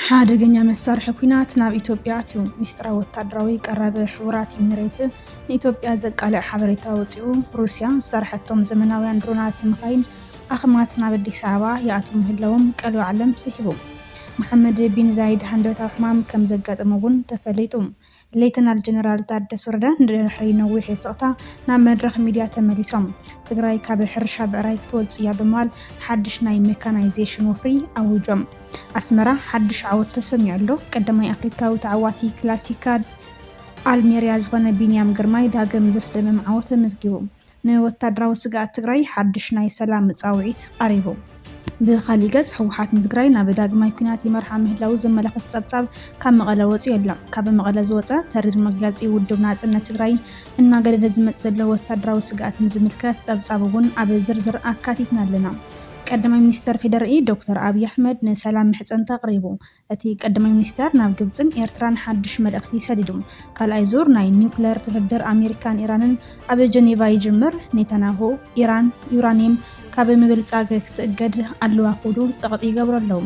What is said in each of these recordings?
ሓደገኛ መሳርሒ ኲናት ናብ ኢትዮጵያ ኣትዩ። ሚስጥራዊ ወታደራዊ ቀረብ ሕቡራት ኢሚሬት ንኢትዮጵያ ዘቃልዕ ሓበሬታ ኣውጺኡ። ሩስያ ዝሰርሐቶም ዘመናውያን ድሮናትን መካይን ኣኽማት ናብ ኣዲስ ኣበባ ይኣትዉ ምህላዎም ቀልቢ ዓለም ስሒቡ። መሓመድ ቢን ዛይድ ሃንደበታዊ ሕማም ከም ዘጋጠሞ'ውን ተፈሊጡ። ሌተናል ጀነራል ታደሰ ወረደ ንድሕሪ ነዊሕ ስቕታ ናብ መድረኽ ሚድያ ተመሊሶም ትግራይ ካብ ሕርሻ ብዕራይ ክትወፅእ እያ ብምባል ሓድሽ ናይ ሜካናይዜሽን ወፍሪ ኣዊጆም። ኣስመራ ሓድሽ ዓወት ተሰሚዑ ኣሎ። ቀዳማይ ኣፍሪካዊ ተዓዋቲ ክላሲካል ኣልሜርያ ዝኾነ ቢንያም ግርማይ ዳግም ዘስደምም ዓወት ኣመዝጊቡ። ንወታደራዊ ስግኣት ትግራይ ሓድሽ ናይ ሰላም ፃውዒት ቐሪቡ። ብኻሊእ ገፅ ህወሓት ንትግራይ ናብ ዳግማይ ኲናት ይመርሓ ምህላዉ ዘመላኽት ፀብፃብ ካብ መቐለ ወፂኡ ኣሎ። ካብ መቐለ ዝወፀ ተሪር መግለፂ ውድብ ናፅነት ትግራይ እናገደደ ዝመፅእ ዘሎ ወታደራዊ ስግኣት ንዝምልከት ፀብፃብ እውን ኣብ ዝርዝር ኣካቲትና ኣለና። ቀዳማይ ሚኒስተር ፌዴሪኢ ዶክተር ኣብይ ኣሕመድ ንሰላም ምሕፀንታ ኣቕሪቡ። እቲ ቀዳማይ ሚኒስተር ናብ ግብጽን ኤርትራን ሓድሽ መልእኽቲ ሰዲዱ። ካልኣይ ዙር ናይ ኒዩክለር ድርድር ኣሜሪካን ኢራንን ኣብ ጀኔቫ ይጅምር፣ ኔታንያሁ፣ ኢራን ዩራንየም ካብ ምብልጻግ ክትእገድ ኣለዋ ክብሉ ጸቕጢ ይገብሩ ኣለዉ።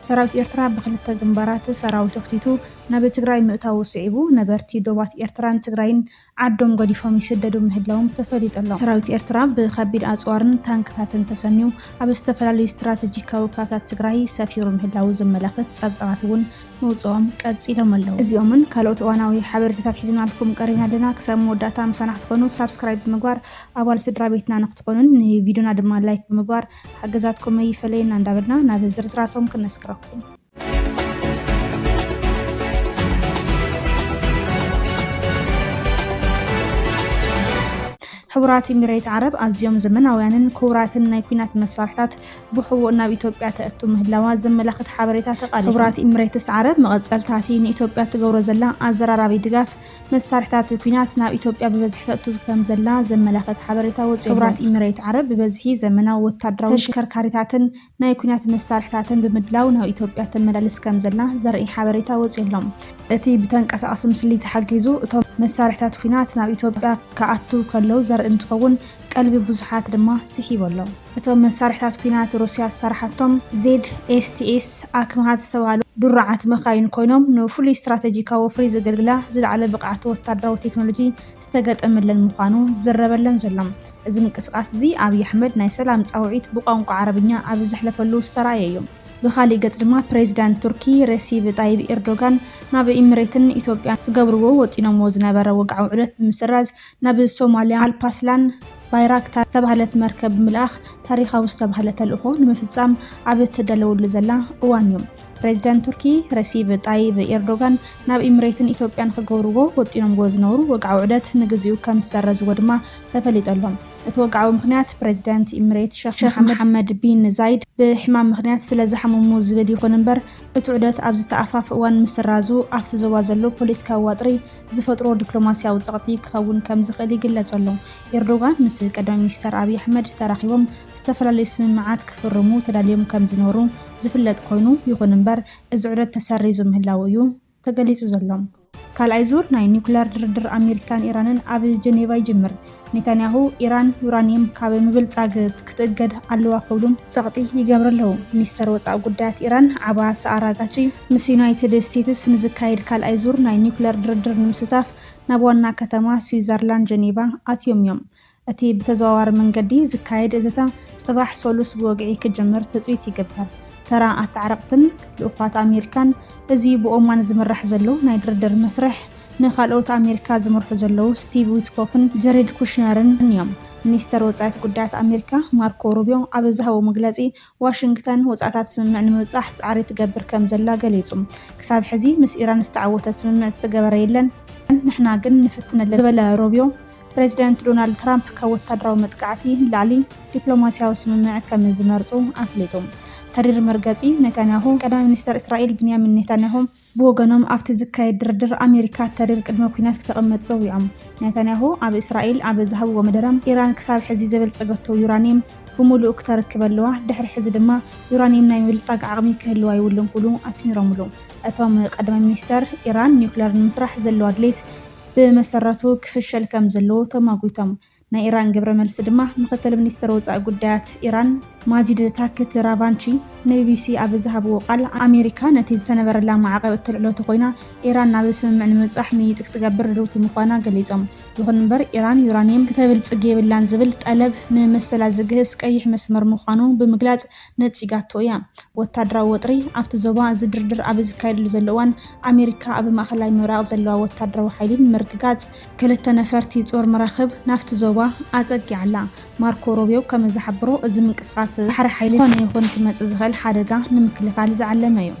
ሰራዊት ኤርትራ ብኽልተ ግንባራት ሰራዊቱ ኣኽቲቱ ናብ ትግራይ ምእታዉ ስዒቡ፣ ነበርቲ ዶባት ኤርትራን ትግራይን ዓዶም ገዲፎም ይስደዱ ምህላዎም ተፈሊጡ ኣሎ። ሰራዊት ኤርትራ ብከቢድ ኣጽዋርን ታንክታትን ተሰንዩ ኣብ ዝተፈላለዩ ስትራተጂካዊ ከባታት ትግራይ ሰፊሩ ምህላዉ ዘመላኽት ጸብጻባት እውን ምውጽኦም ቀጺሎም ኣለዉ። እዚኦምን ካልኦት እዋናዊ ሓበሬታታት ሒዝናልኩም ቀሪብና ኣለና። ክሳብ መወዳእታ ምሳና ክትኮኑ ሳብስክራይብ ብምግባር ኣባል ስድራቤትና ንክትኾኑን ንቪድዮና ድማ ላይክ ብምግባር ሓገዛትኩም ኣይፈለየና እንዳበልና ናብ ዝርዝራቶም ክነስግረኩም። ሕቡራት ኢሚሬት ዓረብ ኣዝዮም ዘመናውያንን ክቡራትን ናይ ኩናት መሳርሕታት ብሕቡእ ናብ ኢትዮጵያ ተእቱ ምህላዋ ዘመላኽት ሓበሬታ ተቓሊሑ። ሕቡራት ኢሚሬትስ ዓረብ መቐጸልታ እቲ ንኢትዮጵያ እትገብሮ ዘላ ኣዘራራቢ ድጋፍ መሳርሕታት ኩናት ናብ ኢትዮጵያ ብበዝሒ ተእቱ ከም ዘላ ዘመላኽት ሓበሬታ ወጺኡ ኣሎ። ሕቡራት ኢሚሬት ዓረብ ብበዝሒ ዘመናዊ ወተሃደራዊ ተሽከርካሪታትን ናይ ኲናት መሳርሕታትን ብምድላው ናብ ኢትዮጵያ ተመላልስ ከምዘላ ዘርኢ ሓበሬታ ወጺኡ ኣሎ። እቲ ብተንቀሳቓሲ ምስሊ ተሓጊዙ እቶም መሳርሕታት ኲናት ናብ ኢትዮጵያ ክኣትው ከለው ዘርኢ እንትኸውን፣ ቀልቢ ብዙሓት ድማ ስሒቡ ኣሎ። እቶም መሳርሕታት ኲናት ሩስያ ዝሰራሓቶም ZSTS ኣክምሃት ዝተባህሉ ድሩዓት መካይን ኮይኖም፣ ንፍሉይ ስትራተጂካዊ ወፍሪ ዘገልግላ ዝለዓለ ብቕዓት ወተሃደራዊ ቴክኖሎጂ፣ ዝተገጠመለን ምዃኑ ዝዝረበለን ዘሎ። እዚ ምንቅስቓስ እዚ ኣብይ ኣሕመድ ናይ ሰላም ጻውዒት ብቋንቋ ዓረብኛ ኣብ ዘሕለፈሉ ዝተራእየ እዩ። ብኻሊእ ገጽ ድማ ፕሬዚዳንት ቱርኪ ሬሲብ ጣይብ ኤርዶጋን ናብ ኢምሬትን ኢትዮጵያን ክገብርዎ ወጢኖምዎ ዝነበረ ወግዓዊ ዑደት ብምስራዝ ናብ ሶማሊያ ኣልፓስላን ባይራክታር ዝተባህለት መርከብ ብምልኣኽ ታሪኻዊ ዝተባህለ ተልእኾ ንምፍጻም ኣብ እትዳለወሉ ዘላ እዋን እዩ። ፕሬዚዳንት ቱርኪ ረሲብ ጣይብ ኤርዶጋን ናብ ኢምሬትን ኢትዮጵያን ክገብርዎ ወጢኖምዎ ዝነበሩ ወግዓዊ ዑደት ንግዚኡ ከም ዝሰረዝዎ ድማ ተፈሊጡ ኣሎ። እቲ ወግዓዊ ምኽንያት ፕሬዚዳንት ኢምሬት ሸኽ መሓመድ ቢን ዛይድ ብሕማም ምኽንያት ስለ ዝሓመሙ ዝብል ይኹን እምበር እቲ ዑደት ኣብዚ ተኣፋፊ እዋን ምስራዙ ኣብቲ ዞባ ዘሎ ፖለቲካዊ ዋጥሪ ዝፈጥሮ ዲፕሎማሲያዊ ፀቕጢ ክኸውን ከም ዝኽእል ይግለፅ ኣሎ። ኤርዶጋን ምስ ቀዳማይ ሚኒስተር ኣብይ ኣሕመድ ተራኺቦም ዝተፈላለዩ ስምምዓት ክፍርሙ ተዳልዮም ከም ዝነበሩ ዝፍለጥ ኮይኑ፣ ይኹን እምበር እዚ ዑደት ተሰሪዙ ምህላዉ እዩ ተገሊጹ ዘሎ። ካልኣይ ዙር ናይ ኒዩክለር ድርድር ኣመሪካን ኢራንን ኣብ ጀኔቫ ይጅምር። ኔታንያሁ፣ ኢራን ዩራንየም ካብ ምብልጻግ ክትእገድ ኣለዋ ክብሉ ጸቕጢ ይገብሩ ኣለዉ። ሚኒስተር ወጻኢ ጉዳያት ኢራን ዓባስ ኣራጋቺ፣ ምስ ዩናይትድ ስቴትስ ንዝካየድ ካልኣይ ዙር ናይ ኒዩክለር ድርድር ንምስታፍ ናብ ዋና ከተማ ስዊዘርላንድ ጀኔቫ ኣትዮም እዮም። እቲ ብተዘዋዋሪ መንገዲ ዝካየድ ዘተ ጽባሕ ሰሉስ ብወግዒ ክጅምር ትጽቢት ይግበር። ተራ ኣታዓረቕትን ልኡዃት ኣሜሪካን፣ እዚ ብኦማን ዝምራሕ ዘሎ ናይ ድርድር መስርሕ፣ ንካልኦት ኣሜሪካ ዝመርሑ ዘለዉ ስቲቭ ዊትኮፍን ጀሬድ ኩሽነርን እዮም። ሚኒስተር ወጻኢት ጉዳያት ኣሜሪካ ማርኮ ሩብዮ ኣብ ዝሃቦ መግለጺ፣ ዋሽንግተን ወጻእታት ስምምዕ ንምብጻሕ ጻዕሪ ትገብር ከምዘላ ገሊጹ። ክሳብ ሕዚ ምስ ኢራን ዝተዓወተ ስምምዕ ዝተገበረ የለን፣ ንሕና ግን ንፍትን ኣለና ዝበለ ሮቢዮ፣ ፕረዚደንት ዶናልድ ትራምፕ ካብ ወታደራዊ መጥቃዕቲ ንላዕሊ ዲፕሎማስያዊ ስምምዕ ከም ዝመርጹ ኣፍሊጡ። ተሪር መርገጺ ኔታንያሁ፣ ቀዳማይ ሚኒስተር እስራኤል ብንያሚን ኔታንያሁ፣ ብወገኖም ኣብቲ ዝካየድ ድርድር ኣሜሪካ ተሪር ቅድመ ኲናት ክተቕምጥ ጸዊዖም። ኔታንያሁ ኣብ እስራኤል ኣብ ዝሃብዎ መደረ፣ ኢራን ክሳብ ሕዚ ዘበልጸገቶ ዩራንየም ብምሉኡ ክተርክብ ኣለዋ፣ ድሕሪ ሕዚ ድማ ዩራንየም ናይ ምብልጻግ ዓቕሚ ክህልዋ የብሉን ክብሉ ኣስሚሮምሉ። እቶም ቀዳማይ ሚኒስተር፣ ኢራን ኒዩክለር ንምስራሕ ዘለዋ ድሌት ብመሰረቱ ክፍሸል ከምዘለዎ ተማጒቶም። ናይ ኢራን ግብረ መልሲ ድማ ምክትል ሚኒስትር ወፃኢ ጉዳያት ኢራን ማጂድ ታክት ራቫንቺ ንቢቢሲ ኣብ ዝሃብዎ ቃል ኣሜሪካ ነቲ ዝተነበረላ ማዕቐብ እተልዕሎ ተኾይና ኢራን ናብ ስምምዕ ንምብፃሕ ምይይጥ ክትገብር ርድውቲ ምዃና ገሊፆም። ይኹን እምበር ኢራን ዩራኒየም ክተብልፅግ የብላን ዝብል ጠለብ ንመሰላ ዝግህስ ቀይሕ መስመር ምዃኑ ብምግላፅ ነፂጋቶ እያ። ወታደራዊ ወጥሪ ኣብቲ ዞባ እዚ ድርድር ኣብ ዝካየደሉ ዘሎ እዋን ኣሜሪካ ኣብ ማእኸላይ ምብራቕ ዘለዋ ወታደራዊ ሓይሊ ንምርግጋፅ ክልተ ነፈርቲ ጾር መራኽብ ናብቲ ዞባ ኣጸጊዓ ኣላ። ማርኮ ሮብዮ ከም ዝሓበሮ፣ እዚ ምንቅስቓስ ባሕሪ ሓይሊ ዝኾነ ይኹን ክመጽእ ዝኽእል ሓደጋ ንምክልኻል ዝዓለመ እዩ።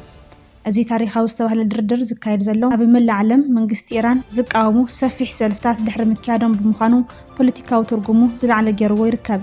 እዚ ታሪኻዊ ዝተባህለ ድርድር ዝካየድ ዘሎ ኣብ መላእ ዓለም መንግስቲ ኢራን ዝቃወሙ ሰፊሕ ሰልፍታት ድሕሪ ምክያዶም ብምዃኑ ፖለቲካዊ ትርጉሙ ዝለዓለ ገይርዎ ይርከብ።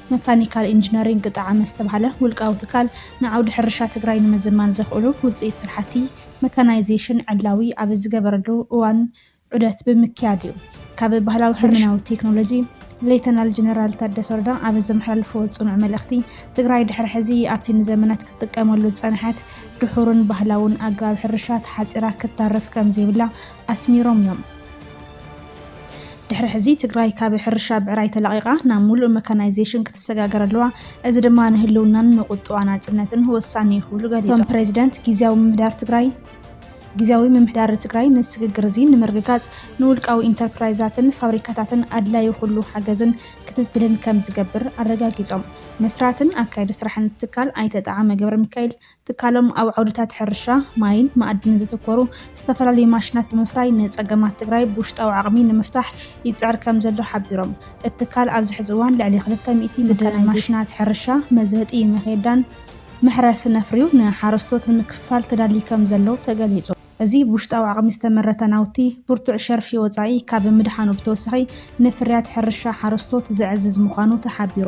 መካኒካል ኢንጂነሪንግ ቅጣዓመ ዝተብሃለ ውልቃዊ ትካል ንዓውዲ ሕርሻ ትግራይ ንምዝማን ዘኽእሉ ውፅኢት ስራሕቲ መካናይዜሽን ዕላዊ ኣብ ዝገበረሉ እዋን ዑደት ብምክያድ ዩ ካብ ባህላዊ ሕርሻ ናብ ዘመናዊ ቴክኖሎጂ ሌተናል ጀነራል ታደሰ ወረዳ ኣብ ዘመሓላለፍዎ ፅኑዕ መልእኽቲ፣ ትግራይ ድሕሪ ሕዚ ኣብቲ ንዘመናት ክትጥቀመሉ ዝፀንሐት ድሑርን ባህላውን ኣገባብ ሕርሻ ተሓፂራ ክተርፍ ከምዘይብላ ኣስሚሮም እዮም። ድሕሪ ሕዚ ትግራይ ካብ ሕርሻ ብዕራይ ተላቒቓ ናብ ሙሉእ መካናይዜሽን ክትሰጋገር ኣለዋ፣ እዚ ድማ ንህልውናን ንቁጠባ ናፅነትን ወሳኒ እዩ ክብሉ ገሊፆም። እቶም ፕሬዚደንት ጊዚያዊ ምምሕዳር ትግራይ ጊዚያዊ ምምሕዳር ትግራይ ንስግግር እዚ ንምርግጋፅ ንውልቃዊ ኢንተርፕራይዛትን ፋብሪካታትን ኣድላዩ ኩሉ ሓገዝን ክትትልን ከምዝገብር ኣረጋጊፆም። መስራትን ኣካያዲ ስራሕን እቲ ትካል ኣይተ ጠዓመ ገብረሚካኤል ትካሎም ኣብ ዓውድታት ሕርሻ፣ ማይን መኣድንን ዘተኮሩ ዝተፈላለዩ ማሽናት ብምፍራይ ንፀገማት ትግራይ ብውሽጣዊ ዓቕሚ ንምፍታሕ ይፅዕር ከምዘሎ ሓቢሮም። እቲ ትካል ኣብዚ ሕዚ እዋን ልዕሊ ክልተ ሚእቲ መካናይዜሽን ማሽናት ሕርሻ፣ መዘጢ መኼዳን መሕረስን ኣፍርዩ ንሓረስቶት ንምክፍፋል ተዳልዩ ከምዘሎ ተገሊፁ። እዚ ብውሽጣዊ ዓቕሚ ዝተመረተ ናውቲ፣ ብርቱዕ ሸርፊ ወጻኢ ካብ ምድሓኑ ብተወሳኺ ንፍርያት ሕርሻ ሓረስቶት ዘዕዝዝ ምዃኑ ተሓቢሩ።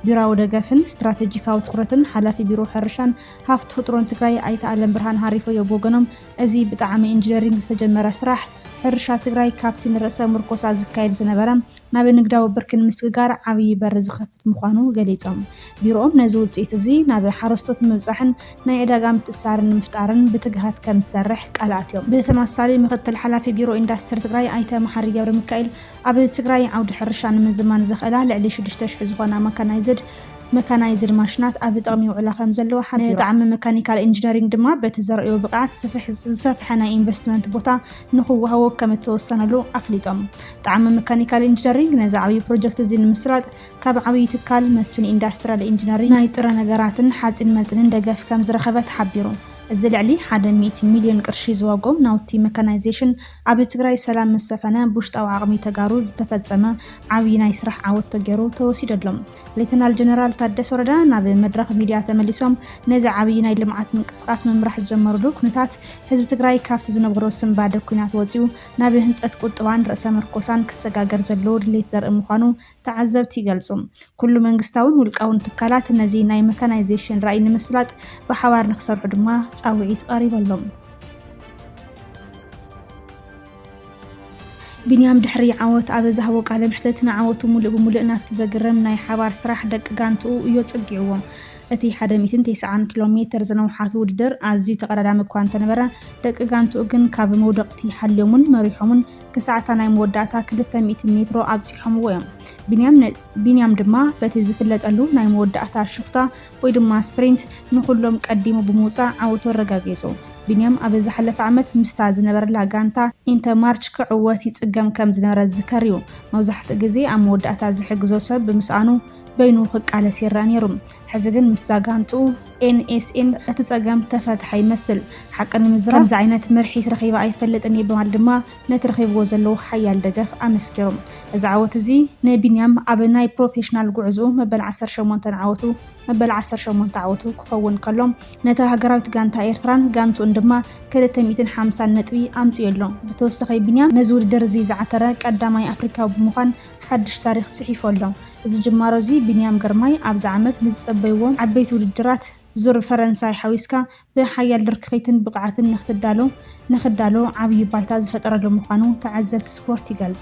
ቢሮዊ ደገፍን ስትራተጂካዊ ትኹረትን ሓላፊ ቢሮ ሕርሻን ሃፍቲ ተፍጥሮን ትግራይ ኣይተ ኣለምብርሃን ሃሪፎዮ ብወገኖም፣ እዚ ብጣዕሚ ኢንጂነሪንግ ዝተጀመረ ስራሕ፣ ሕርሻ ትግራይ ካብቲ ንርእሰ ምርኮሳ ዝካየድ ዝነበረ፣ ናብ ንግዳዊ ብርኪ ንምስግጋር ዓብዪ በሪ ዝኸፍት ምዃኑ ገሊፆም። ቢሮኦም ነዚ ውፅኢት እዚ ናብ ሓረስቶት ንምብፃሕን ናይ ዕዳጋ ምትእስሳርን ንምፍጣርን ብትግሃት ከምዝሰርሕ ቃል ኣትዮም። ብተመሳሳሊ ምክትል ሓላፊ ቢሮ ኢንዳስትሪ ትግራይ ኣይተ መሓሪ ገብረሚካኤል ኣብ ትግራይ ዓውዲ ሕርሻ ንምዝማን ዘኽእላ ልዕሊ ሽዱሽተ ሽሕ ዝኾና ማካናይዝድ መካናይዝድ ማሽናት ኣብ ጥቕሚ ይውዕላ ከምዘለዋ ሓቢሮም። ንጣዕሚ መካኒካል ኢንጂነሪንግ ድማ በቲ ዘርእዮ ብቕዓት ዝሰፍሐ ናይ ኢንቨስትመንት ቦታ ንክወሃቦ ከም እተወሰነሉ ኣፍሊጦም። ጣዕመ መካኒካል ኢንጂነሪንግ ነዚ ዓብዪ ፕሮጀክት እዚ ንምስራጥ ካብ ዓብዪ ትካል መስፍን ኢንዳስትሪያል ኢንጂነሪንግ ናይ ጥረ ነገራትን ሓፂን መፂንን ደገፍ ከም ዝረኸበ ተሓቢሩ። እዚ ልዕሊ ሓደ ሚእቲ ሚሊዮን ቅርሺ ዝዋግኦም ናውቲ መካናይዜሽን ኣብ ትግራይ ሰላም ምስ ሰፈነ ብውሽጣዊ ዓቕሚ ተጋሩ ዝተፈፀመ ዓብዪ ናይ ስራሕ ዓወት ተገይሩ ተወሲዱ ኣሎ። ሌተናል ጀነራል ታደሰ ወረዳ ናብ መድረኽ ሚድያ ተመሊሶም ነዚ ዓብዪ ናይ ልምዓት ምንቅስቓስ ምምራሕ ዝጀመሩሉ ኩነታት ህዝቢ ትግራይ ካብቲ ዝነበሮ ስንባደ ኩናት ወፂኡ ናብ ህንፀት ቁጥባን ርእሰ ምርኮሳን ክሰጋገር ዘለዎ ድሌት ዘርኢ ምዃኑ ተዓዘብቲ ይገልፁ። ኩሉ መንግስታውን ውልቃውን ትካላት ነዚ ናይ መካናይዜሽን ራእይ ንምስላጥ ብሓባር ንክሰርሑ ድማ ፃውዒት ቐሪበሎም። ቢንያም ድሕሪ ዓወት ኣብ ዝሃቦ ቃለ መሕትት፣ ንዓወቱ ምሉእ ብምሉእ ናብቲ ዘግርም ናይ ሓባር ስራሕ ደቂ ጋንትኡ እዩ ኣጸጊዕዎ። እቲ ሓደ ሚእትን ተስዓን ኪሎ ሜተር ዝነውሓት ውድድር ኣዝዩ ተቐዳዳሚ እኳ እንተነበረ፣ ደቂ ጋንትኡ ግን ካብ መውደቕቲ ሓልዮምን መሪሖምን ክሳዕ እታ ናይ መወዳእታ ክልተ ሚእቲ ሜትሮ ኣብጺሖምዎ እዮም። ቢንያም ድማ በቲ ዝፍለጠሉ ናይ መወዳእታ ሹኽታ ወይ ድማ ስፕሪንት ንኹሎም ቀዲሙ ብምውጻእ ዓወቱ ኣረጋጊጹ። ቢንያም ኣብ ዝሓለፈ ዓመት ምስታ ዝነበረላ ጋንታ ኢንተ ማርች ክዕወት ይጽገም ከም ዝነበረ ዝዝከር እዩ። መብዛሕትኡ ግዜ ኣብ መወዳእታ ዝሕግዞ ሰብ ብምስኣኑ በይኑ ክቃለስ ይረኣ ነይሩ። ሕዚ ግን ምስዛ ጋንትኡ ኤንኤስኤን እቲ ጸገም ተፈትሐ ይመስል። ሓቂ ንምዝራብ ከምዚ ዓይነት ምርሒት ረኺበ ኣይፈልጥን እየ በማለት ድማ ነቲ ረኺብዎ ዘለዉ ሓያል ደገፍ ኣመስኪሩ። እዚ ዓወት እዚ ንቢንያም ኣብ ናይ ፕሮፌሽናል ጉዕዝኡ መበል ዓሰርተ ሸሞንተ ዓወቱ መበል ዓሰርተ ሸሞንተ ዓወቱ ክኸውን ከሎ፣ ነታ ሃገራዊት ጋንታ ኤርትራን ጋንትኡን ድማ ክልተ ሚእትን ሓምሳን ነጥቢ ኣምጺኡ ኣሎ። ብተወሳኺ ቢንያም ነዚ ውድድር እዚ ዝዓተረ ቀዳማይ ኣፍሪካዊ ብምዃን ሓድሽ ታሪኽ ጽሒፉ ኣሎ። እዚ ጅማሮ እዚ ቢንያም ግርማይ ኣብዚ ዓመት ንዝጸበይዎ ዓበይቲ ውድድራት ዙር ፈረንሳይ ሓዊስካ ብሓያል ድርክኺትን ብቕዓትን ንክትዳሎ ንክዳሎ ዓብዪ ባይታ ዝፈጠረሉ ምዃኑ ተዓዘብቲ ስፖርት ይገልፁ።